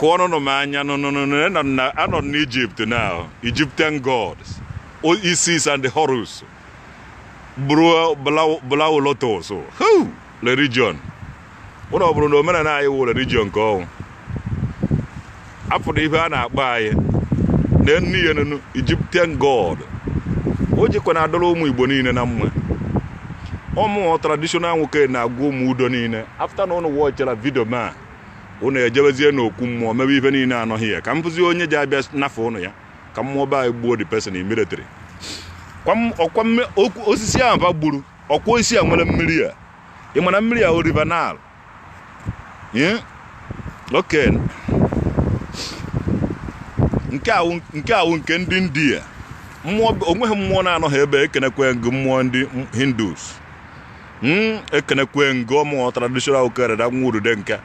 kụọrụnụ m anya anọ n'Egypt na egyptian gods isis and horus blue lotus religion ụlọ ọ bụrụ na omenala anyị wụ religion nke ọnwụ apụrụ ihe a na-akpọ anyị na ennu ya nenu egyptian god o jikwa na adọrọ ụmụ igbo niile na mma ụmụ traditional nwoke na-agwa ụmụ udo niile after na ụnụ watchara video m a ụnụ ejebezie n'okwu mmụọ mebe ihe niile a nọ hia ka m fụzie onye ji abịa nafụ ụnụ ya ka mmụọ be anyị gbuo the person immediately Kwa m- ọkwa mme- okwu- Osiris ahụ ba gburu ọkwa Osiris a nwere mmiri ya ị mana mmiri ya ọ river nile Ee? oke nke awụ nke awụ nke ndị india mmụọ onweghị mmụọ na-anọghị ebe ekenekwe m gị mmụọ ndị hindus Hmm, ekenekwe m gị ụmụ traditional okere da nwa urude nke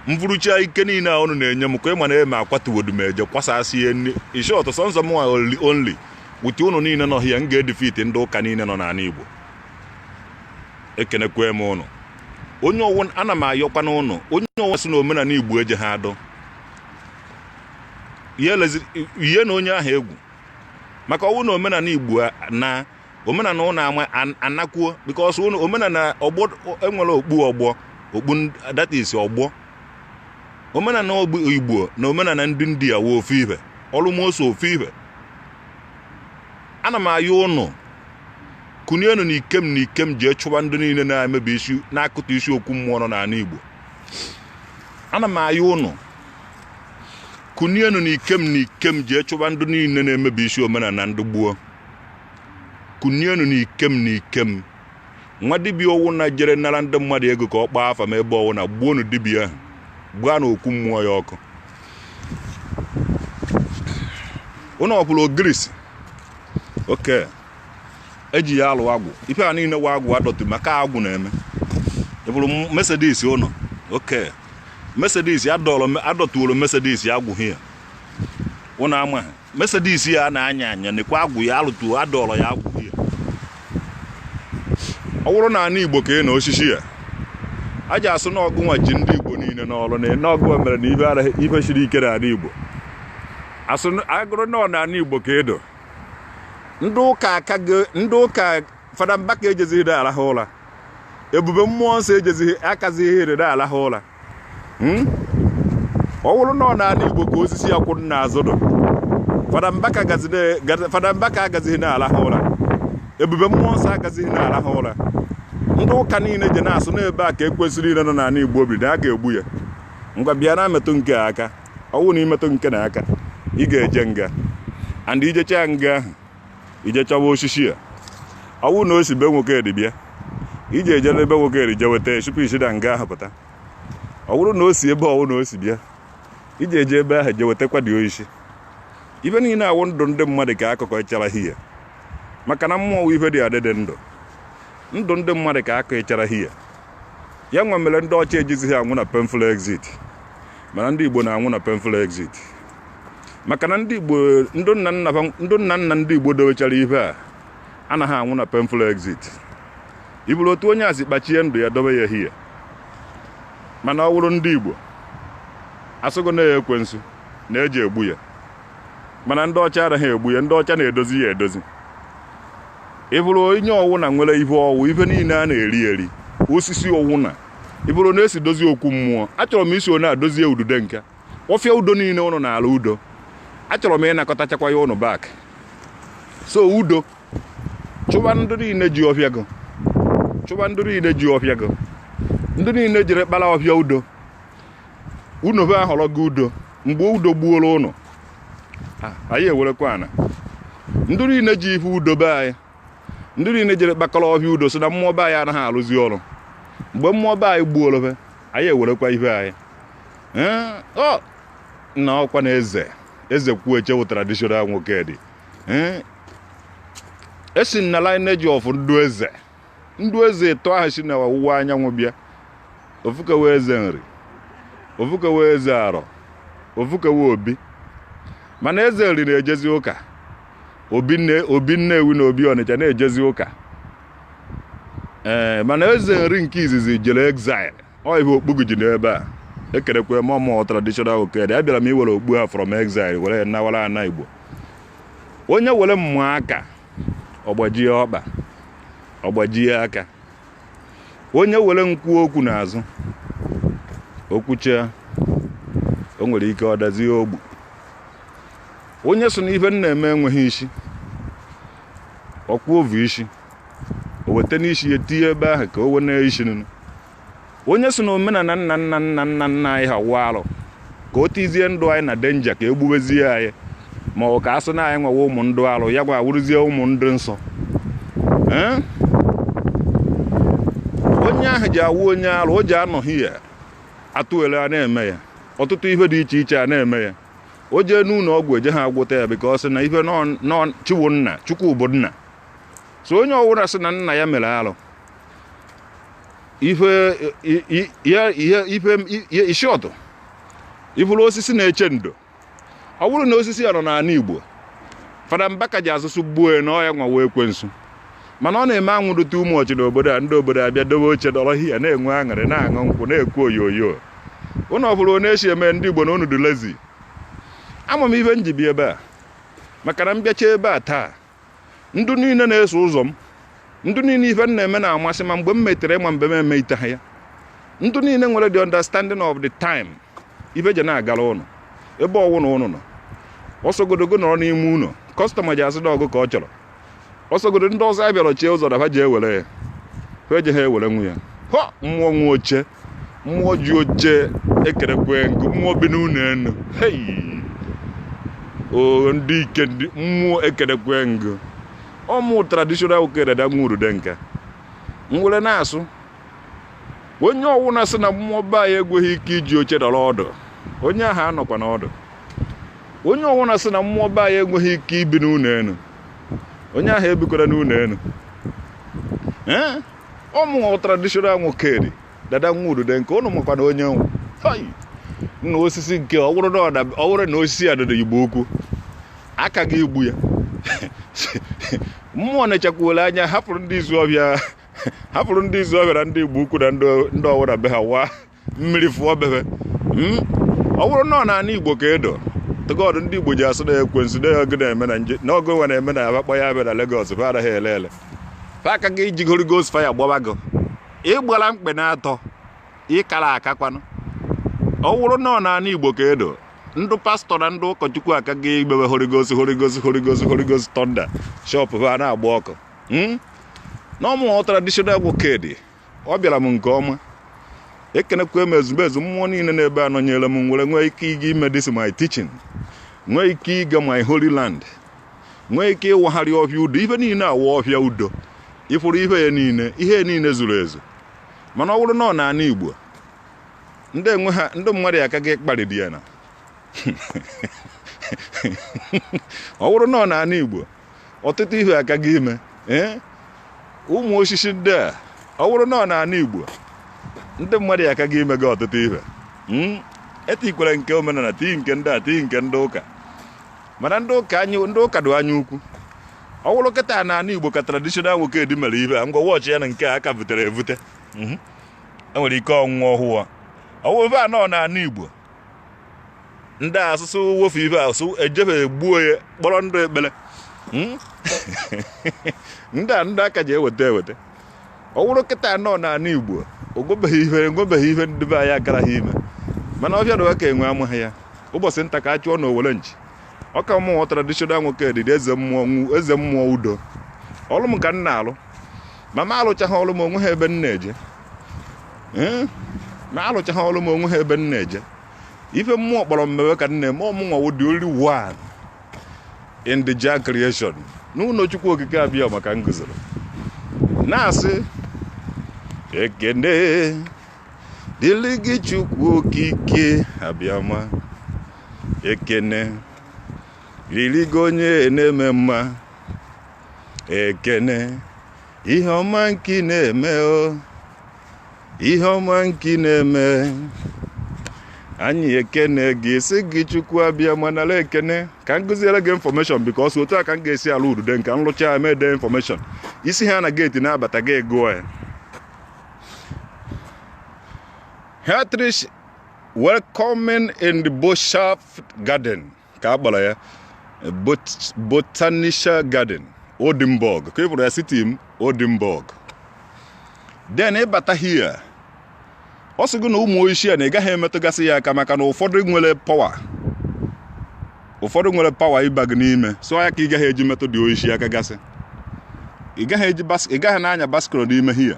m vurucha ike niile a unu na-enye m ka ị ma na m akwatu Odumeje kwasasị ya in short sọnsọ m only only with unu niile nọ hia m ga-edefeat ndị ụka niile nọ n'ala Igbo ekenekwe m ụnụ onye ọwụ ana m ayọkwa na ụnụ onye ọwụ si na omenala Igbo eje ha adọ ihe na onye ahụ egwu maka ọwụ na omenala Igbo na omenala ụnụ ama an- anakwuo because ụnụ omenala ọgbọ enwere okpu ọgbọ okpu ndị- that is ọgbọ omenala ogbu igbo na omenala ndị india wụ ofu ife almost ofu ife ana m ayọ ụnụ kunienu na ikem na ikem jee chụba ndị niile na-emebisi na-akụtasị okwu mmụọ nọ n'ala igbo ana m ayọ ụnụ kunienu na ikem na ikem jee chụba ndị niile na-emebisi omenala ndị gboo kunienu n'ikem n'ikem nwa dibịa ọwụna jere nara ndị mmadụ ego ka ọ kpaa afa ma ebe ọwụna gbuonu dibịa ahụ gbaanụ okwu mmụọ ya ọkụ ụnụ ọkwụrụ ogirisi oke eji ya alụ agwụ ife a niile wụ agwụ adọtụ maka agwụ na-eme i buru Mercedes ụnọ oke Mercedes adọtụworo Mercedes agwụ hia ụnụ amaghị Mercedes ya na-anya anya nekwa agwụ ya alụtu adọrọ ya agwụ ya ọ bụrụ na ana Igbo ka ị na osisi ya a ji asụ na ọgụnwa ji ndị Igbo niile n'oru na ene ọgụnwa mere na ife araghị ife siri ike na ana Igbo asụ ọ wụrụ na ọ na ana Igbo ka edo ndị ụka aka ndị ụka fada mbaka ejezighị na arahụ ụra ebube mmụọ nsọ ejezighị agazighị ere na arahụ ụra hmm? ọ wụrụ na ọ n'ana igbo ka osisi a kwụrụ n'azụ dụ fada mbaka agazighị na-alahụ ụra ebube mmụọ nsọ agazighị na-alahụ ụra ndị ụka niile je na-asụ na ebe a ka ekwensu niile nọ n'ana igbo bi na a ga-egbu ya ngwa bịanụ metụ nke a aka ọ wụ na i metụ nke a aka ị ga-eje nga and i jecha nga ahụ i je achọwa osisi a ọ bụrụ na o si be Nwokedi bịa i je eje n'ebe Nwokedi je weta tupu i si na nga ahụ pụta ọ bụrụ na o si ebe ọwụna o si bịa i je eje ebe ahụ je wetakwa ụdị osisi ife niile a wụ ndụ ndị mmadụ ka a kụkọchara here maka na mmụọ ife dị adịdị ndụ ndụ ndị mmadụ ka a kụchara here ya nwa mere ndị ọcha ejizighị anwụ na painful exit mana ndị igbo na-anwụ na painful exit maka na ndị Igbo ndị nna nna fa- ndị nna nna ndị Igbo dowechara ife a anaghị anwụ na painful exit i buru otu onye a sị kpachie ndụ ya dobe ya here mana ọ wụrụ ndị Igbo asụgo na ya ekwensu na e je egbu ya mana ndị ọcha anaghị egbu ya ndị ọcha na-edozi ya edozi ịbụrụ onye ọwụna nwere ife ọwụ ife niile a na-eri eri osisi ọwụna ịbụrụ na a sị dozie okwu mmụọ achọrọ m isi onye adozie Ududonka ọfịa udo niile ụnụ naara udo achọrọ m ịnakọtachakwa ya ụnụ back sị udo chụba ndị niile ji ọfịa gị chụba ndị niile ji ọfịa gị ndị niile jere kpara ọfịa udo unu be ahọrọ gị udo mgbe udo gbuola ụnụ anyị ewerekwa ana ndị niile ji ife udo be anyị ndị niile jere kpakọrọ ọhịa udo sị na mmụọ be anyị anaghị arụzi ọrụ mgbe mmụọ be anyị gbuola be anyị ewerekwa ihe anyị na ọkwa na eze Ezekwueche wụ traditional Nwokedi e si na lineage of ndụ eze ndụ eze ịtọ ahụ si na ọwụwa anyanwụ bịa ofu ke wụ eze nri ofu ke wụ eze arọ ofu ke wụ obi mana eze nri na-ejezi ụka obi nne obi nnewi na obi ọnịcha na-ejezi ụka ee mana eze nri nke izizi jere exile ọ ihe okpugu ji n'ebe a ekerekwa m ọ mụ wụ traditional Nwokedi abịara m iwere okpu ha from exile were ya nawara ana igbo onye were m maa aka ọgbajie ọkpa ọgbajie aka onye were m kwuo okwu n'azụ o kwuchaa o nwere ike ọ dazie ogbu onye sị na ife m na-eme enweghị isi ọkwa ovu isi o weta n'isi ya tinye ebe ahụ ka o wena isi nụ onye sị na omenala nna nna nna nna nna anyị ha wụ arụ ka o tizie ndụ anyị na danger ka e gbubezie anyị maka a sị na anyị nwa wụ ụmụ ndị arụ ya nwa awụrụzie ụmụ ndị nsọ Ee? onye ahụ ji awụ onye arụ o ji anọghị ya atụwere a na-eme ya ọtụtụ ihe dị iche iche a na-eme ya o jee n'ụlọ ọgwụ ejeha agwọta ya because na ife nọchiwo nna chukwu bụ nna so onye ọwụla sị na nna ya mere alụ ife isi ọtụ ị fụrụ osisi na-eche ndo ọ bụrụ na osisi ya nọ n'ala igbo fada mbaka ji asụ sụ gbuo na ọ ya nwa wụ ekwensu mana ọ na-eme anwụ dị too much n'obodo a ndị obodo abịa dobe oche dọrọ hia na-enwe aṅụrị na-aṅụ nkwụ na-ekwu oyoyo ụnụ afụrụ onye e si eme ndị igbo na ụnụ dị lazy ama m ife m ji bịa ebe a maka na m bịacha ebe a taa ndị niile na-eso ụzọ m ndị niile ife m na-eme na-amasị ma mgbe m metere ma mgbe m emeteha ya ndị niile nwere the understanding of the time ife je na-agara ụnụ ebe ọwụna ụnụ nọ ọsọ godogo nọrọ n'ime ụlọ customer ji asị na ọ gụ ka ọ chọrọ ọsọgodo ndị ọzọ abịara chie ụzọ na ha ji ewere ya ha ejeha ewerenwu ya ha mmụọ nwe oche mmụọ ji oche ekerekwe m gụ mmụọ bi n'ụlọ enu hei o ndị ike ndị mmụọ ekerekwe m gụ ọ mụ traditional okere dada nwa udude nka m were na-asụ onye ọwụna sị na mmụọ be anyị enweghị ike iji oche dọrọ ọdụ onye ahụ anọkwana ọdụ onye ọwụna sị na mmụọ be anyị enweghị ike ibi n'ụlọ elu onye ahụ ebikwara n'ụlọ elu ee ọ mụ nwa traditional nwoke dị dada nwa udude nke ụnụ makwa na onye nwụ nna osisi nke ọ bụrụ na ọ bụrụ na osisi a dịrị igbo ukwu aka gị igbu ya mmụọ na-echekwuola anya hapụrụ ndị isuọfịa hapụrụ ndị isuọfịa na ndị igbo ukwu na ndị ọwụra be ha waa mmiri fụọ bebe hmm? ọ bụrụ na ọ n'ana igbo ka edo tụgọdụ ndị igbo ji asụ na ekwensu na oge na-eme na nje na oge nwe na-eme na abakpọ ya abịa na Lagos fa anaghị ele ele fa aka gị iji holy ghost fire gbaba gị ị gbara mkpe na atọ ị kara aka kwanụ ọ wụrụ na ọ n'ana igbo ka edo ndị pastor na ndị ụkọchukwu aka gị igbebe holy ghost holy ghost holy ghost holy ghost thunder shop ha na-agba ọkụ hmm? na ọ mụwa traditional Nwokedi ọ bịara m nke ọma ekenekwa m ezumezu mmụọ niile n'ebe a nọnyere m m were nwee ike ịga ime this my teaching nwee ike ịga my holy land nwee ike ịwagharị ọhịa udo ife niile a wụ ọhịa udo ị fụrụ ife ya niile ihe niile zuru ezu mana ọ bụrụ na ọ n'ana igbo ndị enwe ha ndị mmadụ ya aka gị kparịdị ya na ọ bụrụ na ọ n'ana igbo ọtụtụ ihe aka gị ime eh? ụmụ osisi ndị a ọ bụrụ na ọ n'ana igbo ndị mmadụ ya aka gị ime gị ọtụtụ ihe hmm? e tikwere nke omenala tii nke ndị a tii nke ndị ụka mana ndị ụka anyị ndị ụka dị anya ukwu ọ bụrụ kịta n'ana igbo ka traditional Nwokedi mere ihe a ngwa wọchị ya na nke a ka butere ebute hmm? e nwere ike ọnwụnwa ọhụwa ọ wụrụ a nọ n'ana igbo ndị asụsụ wofu ibe asụ ejebe egbuo ya kpọrọ ndị ekpere hmm? ndị a ndị aka ji eweta eweta ọ wụrụ kịta nọ n'ana igbo o nwebeghị ihe enwebeghị ihe ndị be anyị akaraghị ime mana ọbịa na ka enwe amaghị ya ụbọchị nta ka a chụọ n'owere nchi ọ ka mụwa traditional Nwokedi dị eze mmụọ eze mmụọ udo ọrụ m ka m na-alụ ma m alụchaghị ọrụ m o nweghị ebe m na-eje hmm? ma m alụchaghị ọrụ m o nweha ebe m na-eje ife mmụọ kpọrọ m mewe ka m na-eme ọ mụnwa wụ the only one in the Jah creation n'ụlọ Chukwu Okike abịama ka m guzoro na-asị ekene dịrị gị Chukwu Okike abịama ekene rịrị gị onye na-eme mma ekene ihe ọma nke ị na-eme o ihe ọma nke ị na-eme anyị ekene gị sị gị chukwu abịama nala ekene ka m gụziere gị information because otu a ka m ga-esi ala Ududonka m lụcha e mede information ị si here na gate na-abata gị gụọ ya Herzlich willkommen in the Boshaf Garden. ka a kpọrọ ya Bot- Botanischer Garten Oldenburg ka ị bụrụ ya city m Oldenburg then ị bata here ọ sị gị na ụmụ oishi a na ị gaghị emetụgasị ya aka maka na ụfọdụ nwere power ụfọdụ nwere power ịba gị n'ime so ọ ya ka ị gaghị eji metụdị oishi aka gasị ị gaghị eji bas- ị gaghị na-anya bicycle n'ime here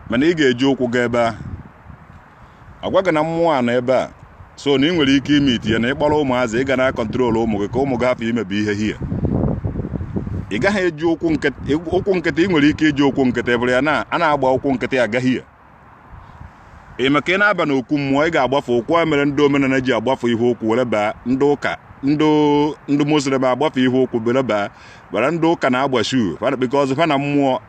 mana ị ga-eji ụkwụ gaa ebe ahụ agwa gị na mmụọ a nọ ebe a so na ị nwere ike ime itinye na ịkpọrọ ụmụazị ị ga na-akọntrol ụmụ gị ka ụmụ gị hapụ imebi ihe here ị gaghị eji ụkwụ nkịtị ụkwụ nkịtị ị nwere ike iji ụkwụ nkịtị bụrụ ya na a na-agba ụkwụ nkịtị aga here maka ị na-aba n'okwu mmụọ ị ga-agbafe ụkwụ a mere ndị omenala ji agbafe ihe ụkwụ were baa ndị ụka ndị ndị muslim agbafe ihe ụkwụ were baa but ndị ụka na-agba shuu fa na-ekpekọ ọzọ fa na mmụọ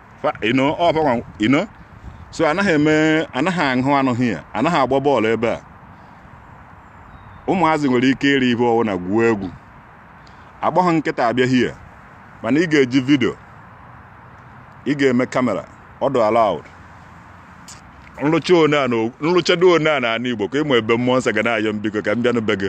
so anaghị eme anaghị ahụ anụ here anaghị agba bọọlụ ebe a ụmụazị nwere ike iri ihe ọwụna gwuo egwu agbaghị nkịta abịa here mana ị ga-eji vidio ị ga-eme kamera ọ dụ allowed m rụcha one a na m rụchado one a na ana igbo ka ịmụ ebube mmụọ nsọ ga na-ayọ m biko ka m bịanụ be gị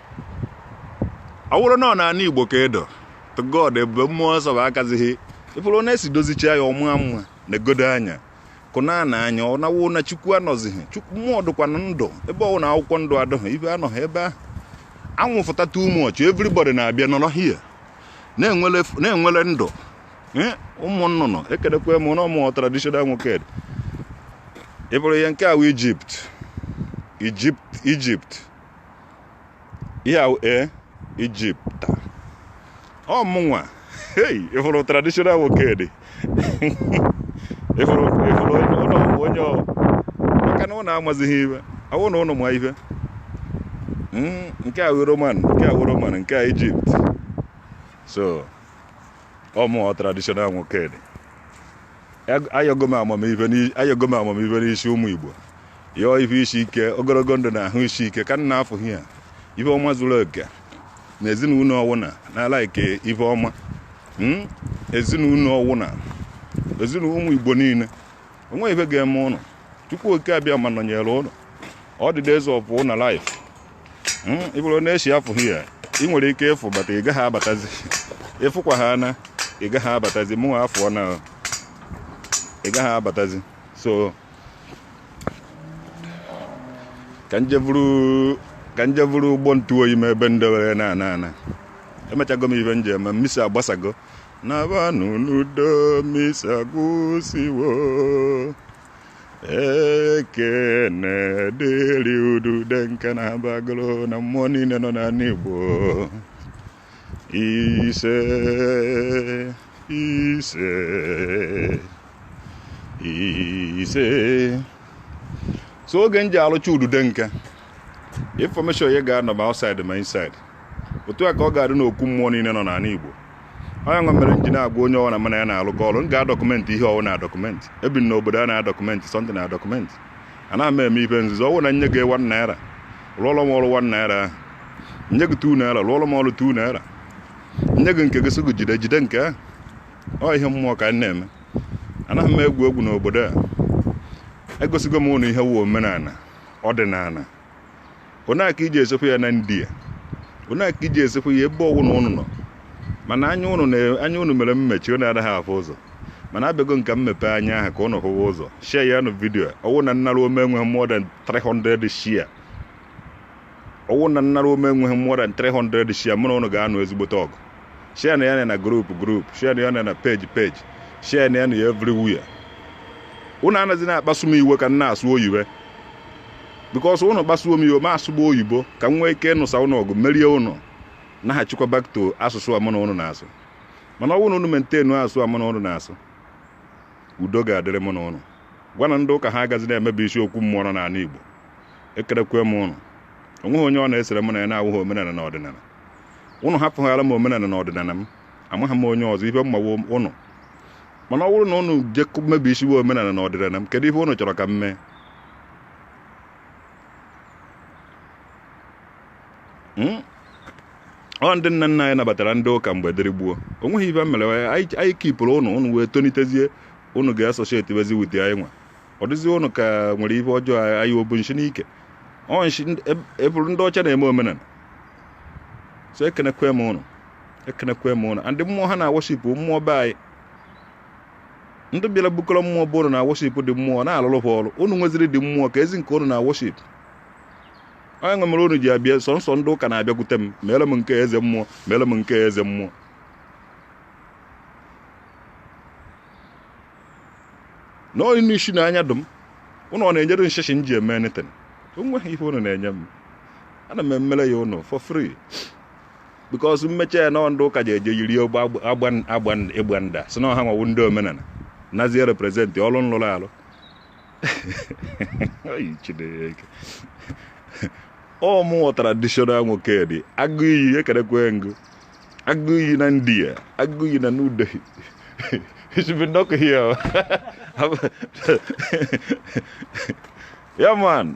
ọ bụrụ na ọ n'ana igbo ka edo to god ebube mmụọ nsọ bụ akazighị ị fụrụ na e si dozicha ya ọ maa mma na egodo anya kụna na anya ọ nawo na chukwu anọzighị chukwu mmụọ dịkwa na ndụ ebe ọwụna akwụkwọ ndụ adịghị ife anọghị ebe ahụ anwụ fụta too much everybody na-abịa nọrọ here na-enwele ndụ eh, ụmụ nnụnụ ekedekwa m na ọ mụwa traditional Nwokedi ị fụrụ ihe nke a wụ Egypt Egypt Egypt ihe ahụ ee Egypt ọ mụnwa hei ị fụrụ traditional Nwokedi ị fụrụ ị fụrụ ụlọ onye ọ maka na ụnụ amazighị ife ọwụna ụnụ ma ife nke a roman nke a roman nke a Egypt so ọ mụwa traditional Nwokedi ayọgo m amamife n'i- ayọgo m amamife n'isi ụmụ igbo yọọ ife isi ike ogologo ndụ na ahụ isi ike ka m na-afụ here ife ọma zuru oke na ezinụlọ ọwụna n'ala ike ife ọma Mm? ezinụlọ ọwụna ezinụlọ ụmụ igbo niile o nwe ife ga-eme ụnụ chukwu oke abịama nọnyere ụnụ all the days of ụnụ life hmm, ị fụrụ na e shi afụ here ị nwere ike ịfụ but ị gaghị abatazi ịfụkwa ha na ị gaghị abatazi mụ afụ na ị gaghị abatazi so ka m je vuru ka m je vuru ụgbọ ntụ oyi m ebe m dewere na ana ana emechago m ife m je me misa agbasago nabanụ n'udo misa agwụsịwo ekene dịrị Ududonka na Haba Agulu na mmụọ niile nọ n'ala Igbo ise ise ise so oge m ji alụcha Ududonka information ya ga-anọ ma outside ma inside otu a ka ọ ga-adị n'okwu mmụọ niile nọ n'ala Igbo ọ ya nwa mere m ji na-agwa onye ọwụna mụ na ya na-alụkọ ọrụ m ga-adọkụmentị ihe ọwụna document ebi m n'obodo a na-adọkụmentị something na document anaghị m eme ife nzuzo ọ wụ na nye gị one naira rụọrọ m ọrụ one naira ahụ nye gị two naira rụọrọ m ọrụ two naira nye gị nke gị sị gị jide jide nke ahụ ọ ihe mmụọ ka anyị na-eme anaghị m egwu egwu n'obodo a egosigo m ụnụ ihe wụ omenala ọdịnala onaka e ji esekpu ya na india onaka e ji esekpu ya ebe ọwụna ụnụ nọ mana anya ụnụ na anya ụnụ mere mmechi ụnụ anaghị afụ ụzọ mana abịago m ka m mepe anya ahụ ka ụnụ hụwa ụzọ share ya nụ video ọwụna nnara ome enweghị more than 300 share ọwụna nnara ome enweghị more than 300 share mụ na ụnụ ga-anụ ezigbote ọgụ share nụ ya na group group share nụ ya na page page share nụ ya na ya everywhere ụnụ anazi na-akpasu m iwe ka m na-asụ oyibo because ụnụ kpasuo m iwe m asụba oyibo ka m nwee ike ịnụsa ụnụ ọgụ merie ụnụ naghachikwa back to asụsụ a mụ na ụnụ na-asụ mana ọ bụrụ na ụnụ maintain asụsụ a mụ na ụnụ na-asụ udo ga-adịrị mụ na ụnụ gwa nụ ndị ụka ha agazi na-emebi isiokwu mmụọ nọ n'ala igbo ekenekwe m ụnụ o nweghị onye ọ na-esere m na ya na-awụghị omenala na ọdịnala ụnụ hapụghara m omenala na ọdịnala m amaghị m onye ọzọ ife mmawo ụnụ mana ọ bụrụ na ụnụ je mebisiwe omenala na ọdịnala m kedu ife ụnụ chọrọ ka m mee hmm? ọ ndị nna nna anyị nabatara ndị ụka mgbe dịrị gboo o nweghị ife mere anyị kipụrụ ụnụ ụnụ wee tonitezie ụnụ ga-associate bezi with anyị nwa ọ dịzi ụnụ ka nwere ife ọjọọ anyị obu nshi n'ike ọ nshi eburu ndị ọcha na-eme omenala so ekenekwe m ụnụ ekenekwe m ụnụ and mmụọ ha na-worship mmụọ be anyị ndị bịara bukọrọ mmụọ be unu na worship dị mmụọ na-alụrụ ha ọrụ unu nweziri dị mmụọ ka ezi nke unu na worship ọ ya nwa mere unu ji abịa sọọsọ ndị ụka na-abịakwute m mere m nke eze mmụọ mere m nke eze mmụọ na onye n'isi na anya dum unu ọ na-enyere m shishi m ji eme anything o nweghị ihe unu na-enye m ana m emere ya unu for free because m mecha ya nọ ndị ụka ji eje yiri ogbe agbada sị na ọ ha nwa wụ ndị omenala nazie represent ọrụ m lụrụ alụ ọ mụ nwa traditional nwokedi agụ iyi ekenekwe m ụnụ agụ iyi na india agụ iyi na new delhi ezigbo nnọkọ ya ya man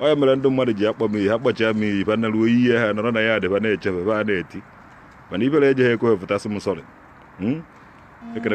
ọ ya mere ndị mmadụ ji akpọ m iyi ha kpọchia m iyi bana ruo ihe ha nọrọ na ya adịba na-echebe ba na-eti mana ifere ejeghị ekwe pụta sị m sorry hmm?